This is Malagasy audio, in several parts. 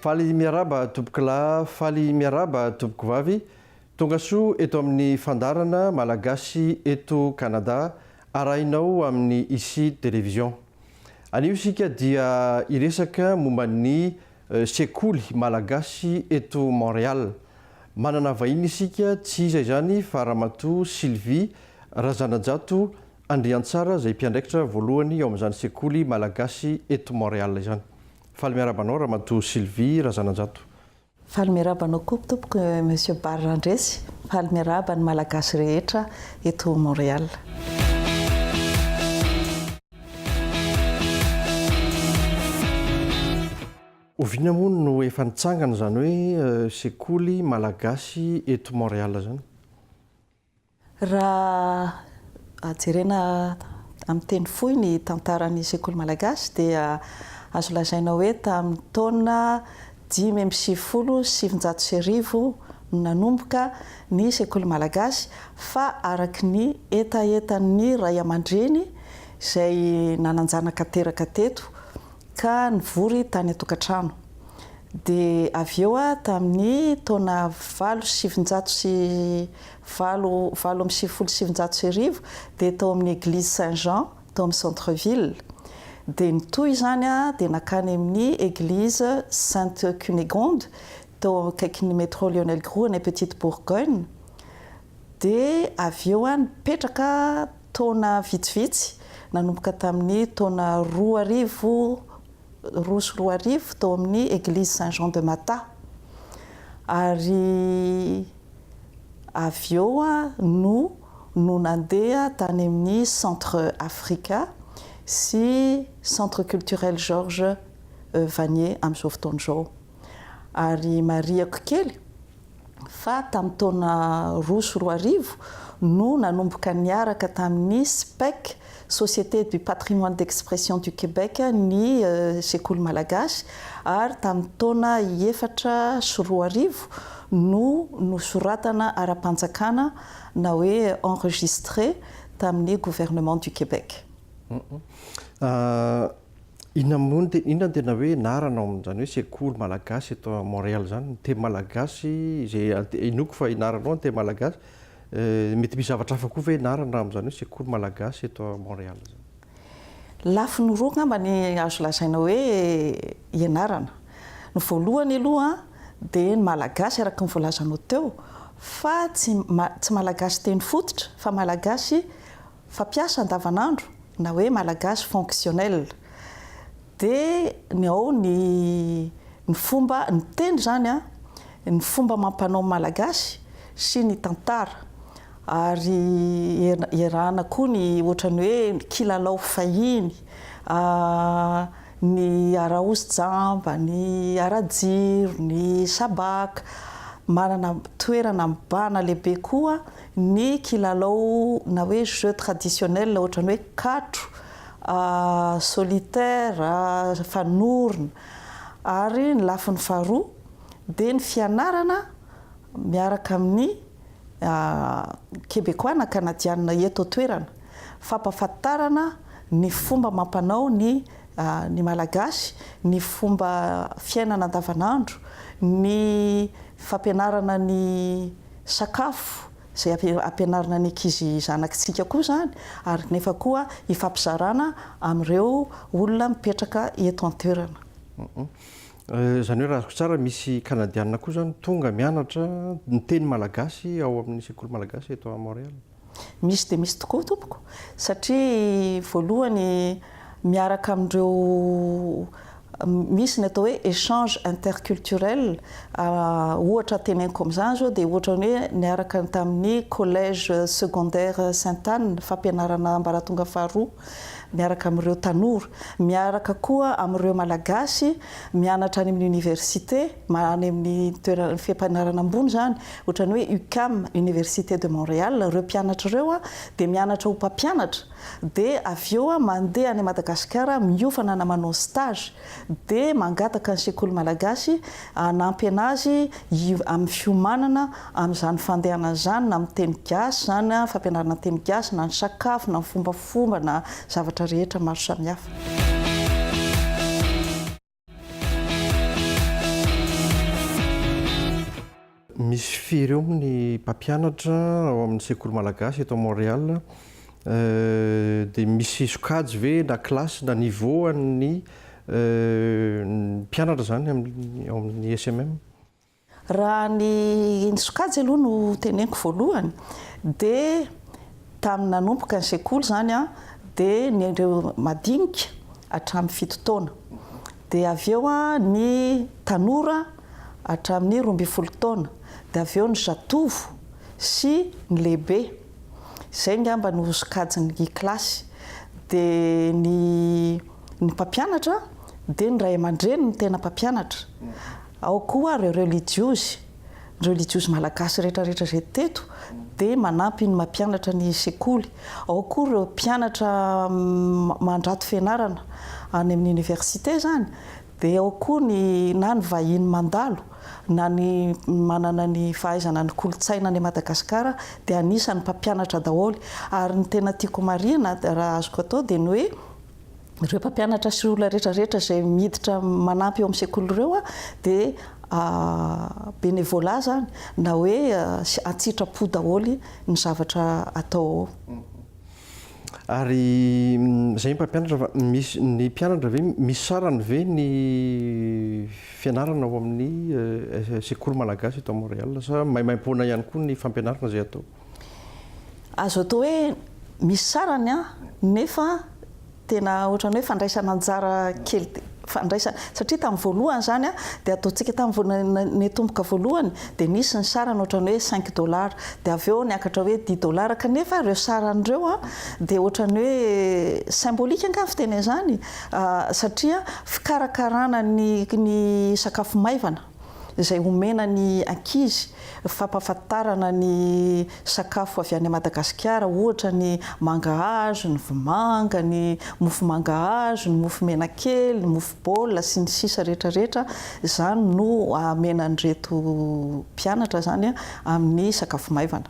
Faly miarahaba tompokolahy faly miarahaba tompokovavy tongasoa eto amin'ny fandaharana Malagasy eto Canada arahinao amin'ny Ici Télévision. Anio isika dia hiresaka momba ny sekoly Malagasy eto Montréal. Manana vahiny isika tsy iza izany fa Ramatoa Sylvie Razanajato Andriantsara izay mpiandraikitra voalohany ao amin'izany sekoly Malagasy eto Montréal izany. Faly miarahaba anao Ramatoa Sylvie Razananjato. Faly miarahaba anao koa tompoko Monsieur Barry Randresy, faly miarahaba ny Malagasy rehetra eto Montréal. Oviana moa no efa nitsangana izany hoe sekoly Malagasy eto Montréal izany? Raha jerena amin'ny teny fohy ny tantaran'ny sekoly malagasy dia azo lazaina hoe tamin'ny taona dimy amby sivifolo sy sivinjato sy arivo no nanomboka ny sekoly malagasy fa araka ny hetahetan'ny ray aman-dreny izay nanan-janaka teraka teto ka nivory tany an-tokantrano. Dia avy eo tamin'ny taona valo sy sivinjato sy valo, valo amby sivifolo sy sivinjato sy arivo, dia tao amin'ny Eglise Saint Jean tao amin'ny Centre Ville. Dia nitohy izany dia nankany amin'ny Eglise Sainte Cunégonde tao akaikin'ny Métro Lionel Groulx any Petite Bourgogne. Dia avy eo nipetraka. taona vitsivitsy, nanomboka tamin'ny taona roa arivo, roa sy roa arivo, tao amin'ny Eglizy Saint Jean de Mata. Ary avy eo aho no nandeha tany amin'ny Centre Africa sy Centre Culturel Georges Vanier amin'izao fotoana izao. Ary marihiko kely, fa tamin'ny taona roa sy roa arivo no nanomboka niaraka tamin'ny SPEC, Société du Patrimoine d'Expression du Québec, ny Sekoly Malagasy ary tamin'ny taona efatra sy roa arivo no nosoratana ara-panjakana na hoe enregistré tamin'ny Gouvernement du Québec. Inona moa no tena, inona no tena hoe anarana ao amin'izany hoe sekoly malagasy eto à Montréal izany? Ny teny malagasy izay ante, inoako fa ianarana ao ny teny malagasy, mety misy zavatra hafa koa ve ianarana amin'izany hoe sekoly malagasy eto à Montréal izany? Lafiny roa angamba ny azo lazaina hoe ianarana. Ny voalohany aloha dia ny malagasy araka ny voalazanao teo fa tsy, tsy malagasy teny fototra fa malagasy. Fampiasa andavanandro na hoe malagasy fonctionnel dia ny ao ny ny fomba ny teny izany an, ny fomba amam-panao malagasy sy ny tantara ary iarahana koa ny ohatran'ny hoe ny kilalao fahiny, ny araozy jamba, ny arajiro, ny sabàka. Manana toerana mibahana lehibe koa ny kilalao na hoe jeux traditionnels ohatran'ny hoe katro, solitaire, fanorona ary ny lafiny faharoa dia ny fianarana miaraka amin'ny Kebekoà na Kanadiana eto an-toerana, fampahafantarana ny fomba amam-panao ny ny Malagasy, ny fomba fiainana andavanandro, ny fampianarana ny sakafo izay ampianarina ny ankizy zanakitsika koa izany ary nefa koa hifampizarana amin'ireo olona mipetraka eto an-toerana. Izany hoe raha azoko tsara misy Kanadiana koa izany tonga mianatra ny teny malagasy ao amin'ny sekoly malagasy eto Montréal? Misy dia misy tokoa tompoko satria voalohany miaraka amin'ireo misy ny atao hoe échange interculturel ohatra teneniko amin'izany zao dia ohatra hoe niaraka tamin'ny collège secondaire Sainte Anne fampianarana ambaratonga faharoa miaraka amin'ireo tanora miaraka koa amin'ireo malagasy mianatra any amin'ny université any amin'ny toerana fiampianarana ambony izany Ohatran'ny hoe UQAM, Université de Montréal, ireo mpianatra ireo dia mianatra ho mpampianatra dia avy eo mandeha any Madagasikara miofana na manao stage dia mangataka ny sekoly malagasy hanampy anazy amin'ny fiomanana amin'izany fandehana izany na amin'ny teny gasy izany fampianarana ny teny gasy na ny sakafo na ny fombafomba na zavatra rehetra maro samihafa. Misy firy eo ny mpampianatra ao amin'ny sekoly malagasy eto Montréal dia misy sokajy ve na classe na niveau an'ny mpianatra izany ao amin'ny SMM? Raha ny ny sokajy aloha no teneniko voalohany dia tamin'ny nanomboka ny sekoly izany an, dia ny ireo madinika hatramin'ny fito taona, dia avy eo ny tanora hatramin'ny roa ambin'ny folo taona, dia avy eo ny zatovo sy ny lehibe, izay angamba no sokajin'ny kilasy, dia ny ny mpampianatra dia ny ray aman-dreny no tena mpampianatra, Ao koa ary ireo relijiozy, ny relijiozy malagasy rehetra rehetra izay teto dia manampy ny mampianatra ny sekoly. Ao koa ireo mpianatra mandrato fianarana any amin'ny université izany, dia ao koa ny na ny vahiny mandalo na ny manana ny fahaizana ny kolontsaina any Madagasikara dia anisan'ny mpampianatra daholo. Ary ny tena tiako marihina raha azoko atao dia ny hoe, Ireo mpampianatra sy olona rehetra rehetra izay miditra manampy eo amin'ny sekoly ireo dia bénévolat izany na hoe an-tsitrapo daholo ny zavatra atao ao. Ary izay mpampianatra fa misy, ny mpianatra ve misy sarany ve ny fianarana ao amin'ny sekoly malagasy eto Montréal sa maimaimpoana ihany koa ny fampianarana izay atao? Azo atao hoe misy sarany an, nefa tena ohatran'ny hoe fandraisana anjara kely fandraisana satria tamin'ny voalohany izany an, dia ataontsika tamin'ny voalohany nitomboka voalohany dia nisy ny sarany ohatran'ny hoe cinq dollars dia avy eo niakatra hoe dix dollars kanefa ireo sarany ireo an dia ohatran'ny hoe symbolique angaha ny fiteny an'izany satria fikarakarana ny sakafo maivana. izay omena ny ankizy, fampahafantarana ny sakafo avy any Madagasikara ohatra ny mangahazo, ny vomanga, ny mofo mangahazo, ny mofo menakely, ny mofo baolina sy ny sisa rehetra rehetra izany no amena an'ireto mpianatra izany amin'ny sakafo maivana.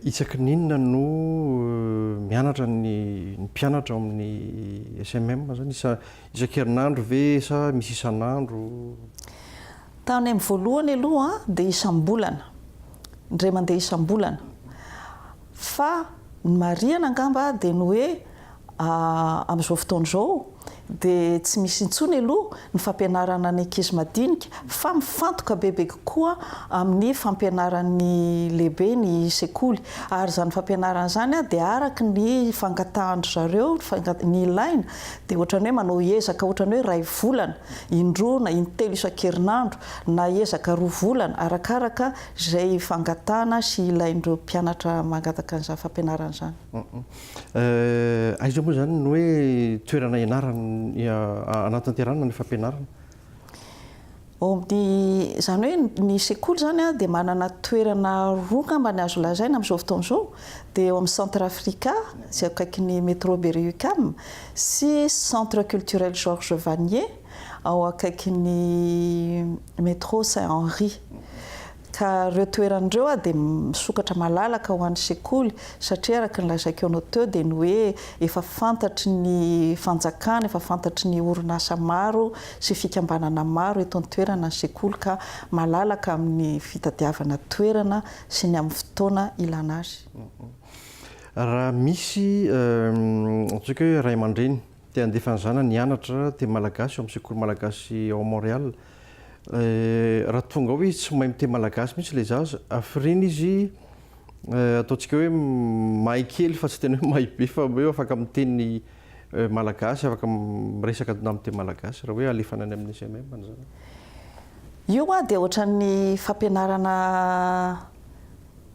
Isaky ny inona no mianatra ny mpianatra ao amin'ny SMM izany? Isan-kerinandro ve sa misy isan'andro? Tany amin'ny voalohany aloha dia isam-bolana, indray mandeha isam-bolana. Fa ny marihana angamba dia ny hoe amin'izao fotoana izao dia tsy misy intsony aloha ny fampianarana ny ankizy madinika fa mifantoka bebe kokoa amin'ny fampianaran'ny lehibe ny sekoly. Ary izany fampianarana izany dia araka ny fangatahan-dry zareo, ny ilaina dia ohatran'ny hoe manao ezaka ohatran'ny hoe iray volana indroa na intelo isan-kerinandro na ezaka roa volana arakaraka izay fangatahana sy ilain'ireo mpianatra mangataka an'izany fampianarana izany. Aiza moa izany no hoe toerana ianarana hanatanterahana ny fampianarana? Izany hoe ny sekoly izany dia manana toerana roa angamba ny azo lazaina amin'izao fotoana izao, dia eo amin'ny Centre Africa izay eo akaikin'ny Metro Berry-UQAM sy Centre Culturel Georges Vanier ao akaikin'ny Metro Saint Henri. Ka ireo toerana ireo aho dia misokatra malalaka ho an'ny sekoly satria araka ny lazaiko anao teo dia ny hoe efa fantatry ny fanjakana, efa fantatry ny orinasa maro sy fikambanana maro eto an-toerana ny sekoly ka malalaka amin'ny fitadiavana toerana sy ny amin'ny fotoana ilana azy. Raha misy ataontsika hoe ray aman-dreny Te handefa ny zanany hianatra teny malagasy ao amin'ny sekoly malagasy ao Montréal. Raha tonga ao izy tsy mahay miteny malagasy mihitsy ilay zaza. Hafiriana izy, ataontsika hoe mahay kely fa tsy tena hoe mahay be fa hoe afaka miteny malagasy, afaka miresaka amin'ny teny malagasy raha hoe alefana any amin'ny SMM ny zanany. Io dia ohatran'ny fampianarana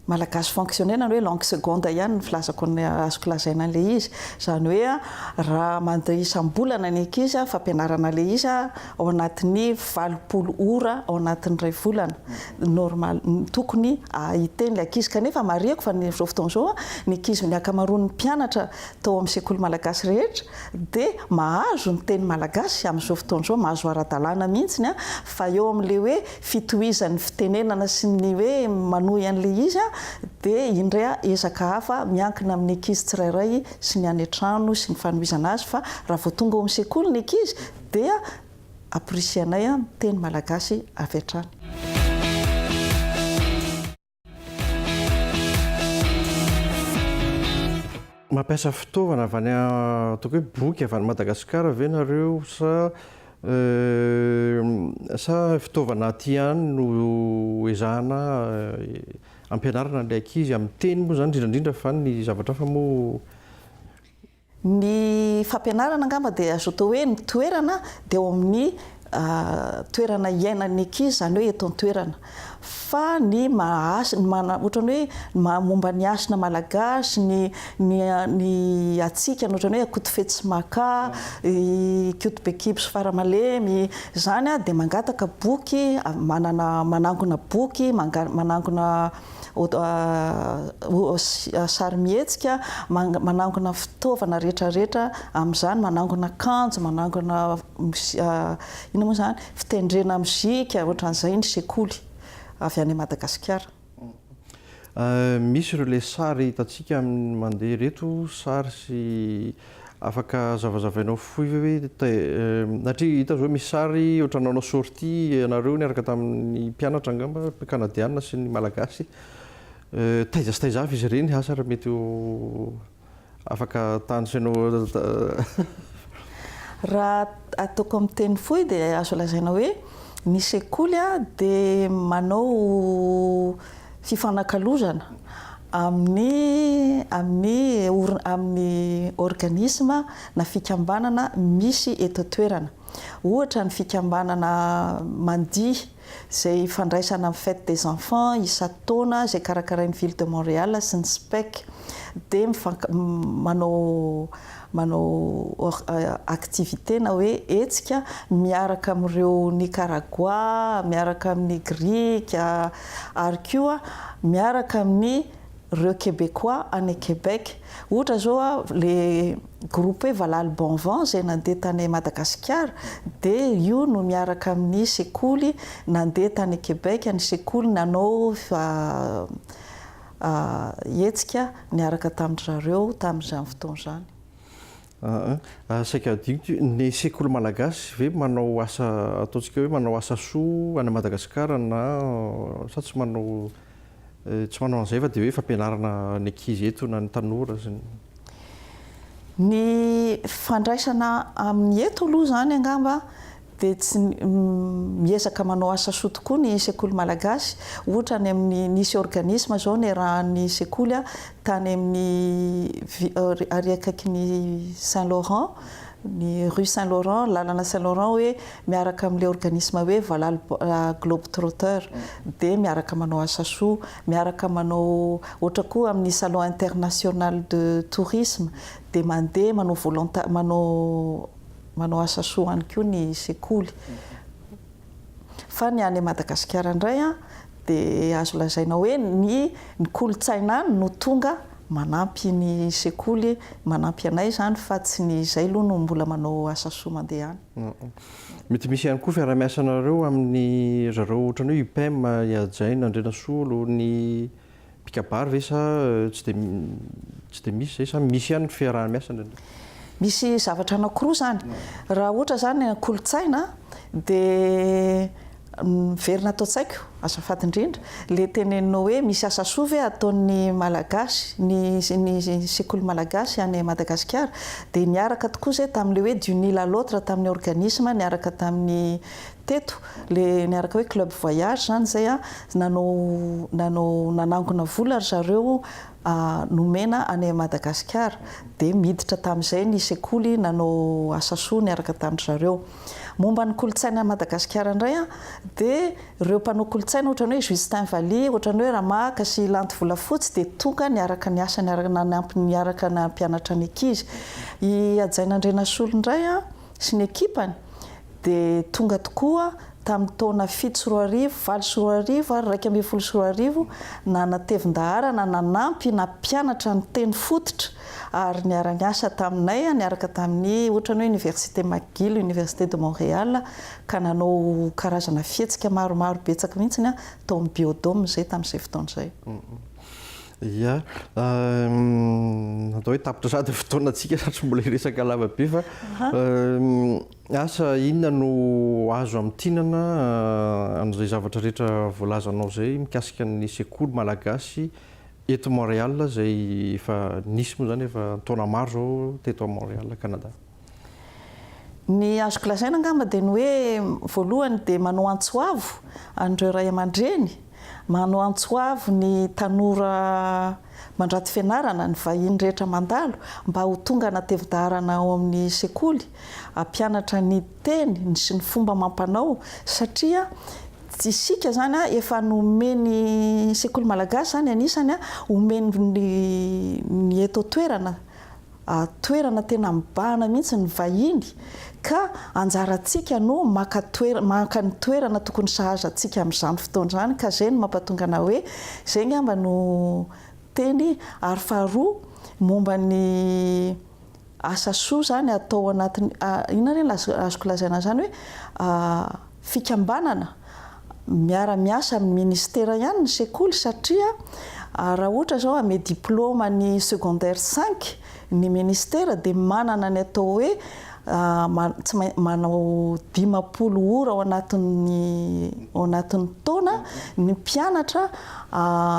Malagasy fonctionner na hoe langue seconde ihany ny filazako ny azoko lazaina an'ilay izy. Izany hoe raha mandeha isam-bolana ny ankizy fampianarana ilay izy ao anatin'ny valopolo ora ao anatin'ny iray volana normal tokony hiteny ilay ankizy. Kanefa marihiko fa amin'izao fotoana izao ny ankizy ny ankamaroan'ny mpianatra tao amin'ny sekoly malagasy rehetra dia mahazo ny teny malagasy amin'izao fotoana izao, mahazo ara-dalàna mihitsy fa eo amin'ilay hoe fitohizan'ny fitenenana sy ny hoe manohy an'ilay izy aho dia indray ezaka hafa miankina amin'ny ankizy tsirairay sy ny any an-trano sy ny fanohizana azy fa raha vao tonga ao amin'ny sekoly ny ankizy dia aporisihanay ny teny malagasy avy hatrany. Mampiasa fitaovana avy any ataoko hoe boky avy any Madagasikara ve nareo sa sa fitaovana aty any no ezahana ampianarana ny ankizy amin'ny teny moa zany indrindra indrindra fa ny zavatra hafa moa Ny fampianarana angamba dia azo atao hoe ny toerana dia ao amin'ny toerana iainan'ny ankizy, izany hoe eto an-toerana. Fa ny maha-hasina, ohatran'ny hoe ny maha-momba ny hasina malagasy, ny ny ny hatsikana ohatran'ny hoe Akotofetsimaka, Ikoto Bekibo sy Faramalemy, izany dia mangataka boky, manana manangona boky, manangona. sarimihetsika, manangona fitaovana rehetrarehetra amin'izany, manangona akanjo, manangona inona moa izany, fitendrena mozika, ohatran'izay ny sekoly avy any Madagasikara. Misy ireo ilay sary hitantsika amin'ny mandeha ireto, sary sy Afaka zavazavainao fohy ve hoe satria hita zao misy sary ohatra nanao sortie ianareo niaraka tamin'ny mpianatra angamba kanadianina sy ny malagasy taiza sy taiza avy izy ireny asa raha mety ho afaka tanisainao raha ataoko amin'ny teny fohy dia azo lazaina hoe ny sekoly dia manao fifanakalozana amin'ny amin'ny orin amin'ny organisme na fikambanana misy eto an-toerana. Ohatra ny fikambanana mandihy izay ifandraisana amin'ny fête des enfants isan-taona izay karakarain'ny ville de Montréal sy ny SPEC dia mifank manao manao activité na hoe hetsika miaraka amin'ireo Nikaragoà, miaraka amin'ny Grika ary koa miaraka amin'ireo Kebekoà any Québec. Ohatra izao ilay groupe hoe Valahalo Bon Vent izay nandeha tany Madagasikara dia io no miaraka amin'ny sekoly nandeha tany Québec, ny sekoly nanao hetsika niaraka tamin-dry zareo tamin'izany fotoana izany. Aa, saika hadinoko ity, ny sekoly malagasy ve manao asa, ataontsika hoe manao asa soa any Madagasikara na, sa tsy manao, tsy manao an'izay fa dia hoe fampianarana ny ankizy eto na ny tanora sy ny. Ny fandraisana amin'ny eto aloha izany angamba dia tsy miezaka manao asa soa tokoa ny sekoly malagasy, ohatra any amin'ny nisy organisme zao niarahan'ny sekoly tany amin'ny ary akaikin'ny Saint Laurent ny rue Saint Laurent lalana Saint Laurent hoe miaraka amin'ilay organisme hoe valala globe trotteur dia miaraka manao asa soa miaraka manao ohatra koa amin'ny salon international de tourisme dia mandeha manao volonta manao Manao asa soa any koa ny sekoly. Fa ny any Madagasikara indray dia azo lazaina hoe ny ny kolontsaina any no tonga manampy ny sekoly, manampy anay izany fa tsy ny izay aloha no mbola manao asa soa mandeha any. Mety misy ihany koa fiarahamiasanareo amin'ny ry zareo ohatran'ny hoe UPEM, i Hajaina Andrianasolo, ny Mpikabary ve sa tsy dia tsy dia misy izay sa misy ihany ny fiaraha-miasa indraindray? Misy zavatra anankiroa izany. Raha ohatra izany kolontsaina dia miverina ato an-tsaiko azafady indrindra ilay teneninao hoe misy asa soa ve ataon'ny Malagasy, ny ny sekoly Malagasy any Madagasikara? Dia niaraka tokoa izay tamin'ilay hoe d'une île à l'autre tamin'ny organisme niaraka tamin'ny teto. Le niaraka hoe club voyage zany zay a, nanao nanao nanangona vola ry zareo nomena any Madagasikara dia miditra tamin'izay ny sekoly nanao asa soa niaraka tamin-dry zareo. Momba ny kolontsaina any Madagasikara indray a, dia ireo mpanao kolontsaina ohatran'ny hoe Justin Vally, ohatran'ny hoe Ramahaka sy Lanto Volafotsy dia tonga niaraka niasa niaraka nanampy niaraka nampianatra ny ankizy. I Hajaina Andrianasolo indray a, sy ny ekipany dia tonga tokoa tamin'ny taona fito sy roa arivo, valo sy roa arivo ary iraika ambin'ny folo sy roa arivo nanatevin-daharana nanampy na mpianatra niteny fototra ary niara-niasa taminay niaraka tamin'ny ohatran'ny hoe Université McGill, Université de Montréal ka nanao karazana fihetsika maromaro betsaka mihitsy tao amin'ny Biodome izay tamin'izay fotoana izay. Ia, atao hoe tapitra sahady ny fotoanantsika satry mbola hiresaka lava be fa asa inona no azo amintinana an'izay zavatra rehetra voalazanao izay mikasika ny sekoly malagasy eto Montréal izay efa nisy moa izany efa an-taona maro izao teto Montréal Canada. Ny azoko lazaina angamba dia ny hoe voalohany dia manao antso avo an'ireo ray aman-dreny, manao antso avo ny tanora mandrato fianarana, ny vahiny rehetra mandalo mba ho tonga anatevi-daharana ao amin'ny sekoly, hampianatra ny teny, ny sy ny fomba amam-panao satria isika izany efa nomen'ny sekoly malagasy izany anisany omen'ny eto an-toerana. toerana tena mibahana mihitsy ny vahiny ka anjarantsika no maka toerana maka ny toerana tokony sahaza antsika amin'izany fotoana izany ka izay no mampatonga anah hoe izay ngamba no teny ary faharoa momba ny asa soa izany atao anatin'ny inona re ny azoko lazaina an'izany hoe fikambanana miara miasa amin'ny ministera ihany ny sekoly satria raha ohatra izao hanome diploma ny secondaire cinq ny ministera dia manana ny atao hoe tsy maintsy manao dimampolo ora ao anatin'ny ao anatin'ny taona ny mpianatra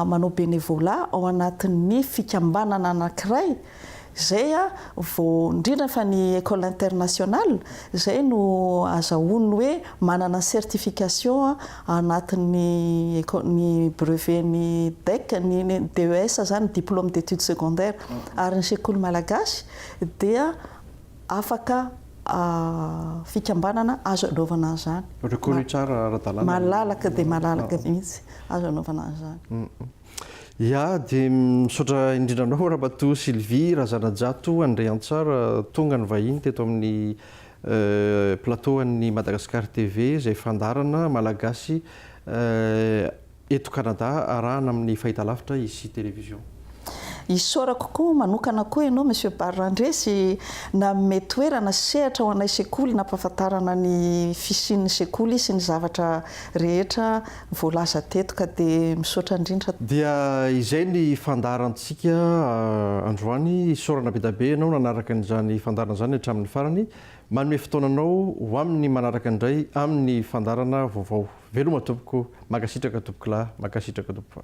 manao bénévolat ao anatin'ny fikambanana anankiray Zay a vao indrindra fa ny ecole internationale zay no azahoany hoe manana certification anatin'ny ny brevet ny DEC ny DES zany diplome d'études secondaires ary ny sekoly malagasy dia afaka fikambanana azo anaovana an'izany. Reconnu tsara ara-dalàna. Malalaka dia malalaka mihitsy azo anaovana an'izany. Ya dia misaotra indrindra anao Ramatoa Sylvie Razanajato Andriantsara tonga nivahiny teto amin'ny plateau an'ny Madagascar TV izay fandaharana Malagasy eto Canada arahana amin'ny fahitalavitra Ici Télévision. Isaorako koa manokana koa ianao Monsieur Barre Randresy nanome toerana sy sehatra ho anay sekoly nampahafantarana ny fisian'ny sekoly sy ny zavatra rehetra voalaza teto ka dia misaotra indrindra. Dia izay ny fandaharantsika androany, isaorana bedabe ianao nanaraka an'izany fandaharana izany hatramin'ny farany, manome fotoananao ho amin'ny manaraka indray amin'ny fandaharana vaovao. Veloma tompoko, mankasitraka tompokolahy, mankasitraka tompoko.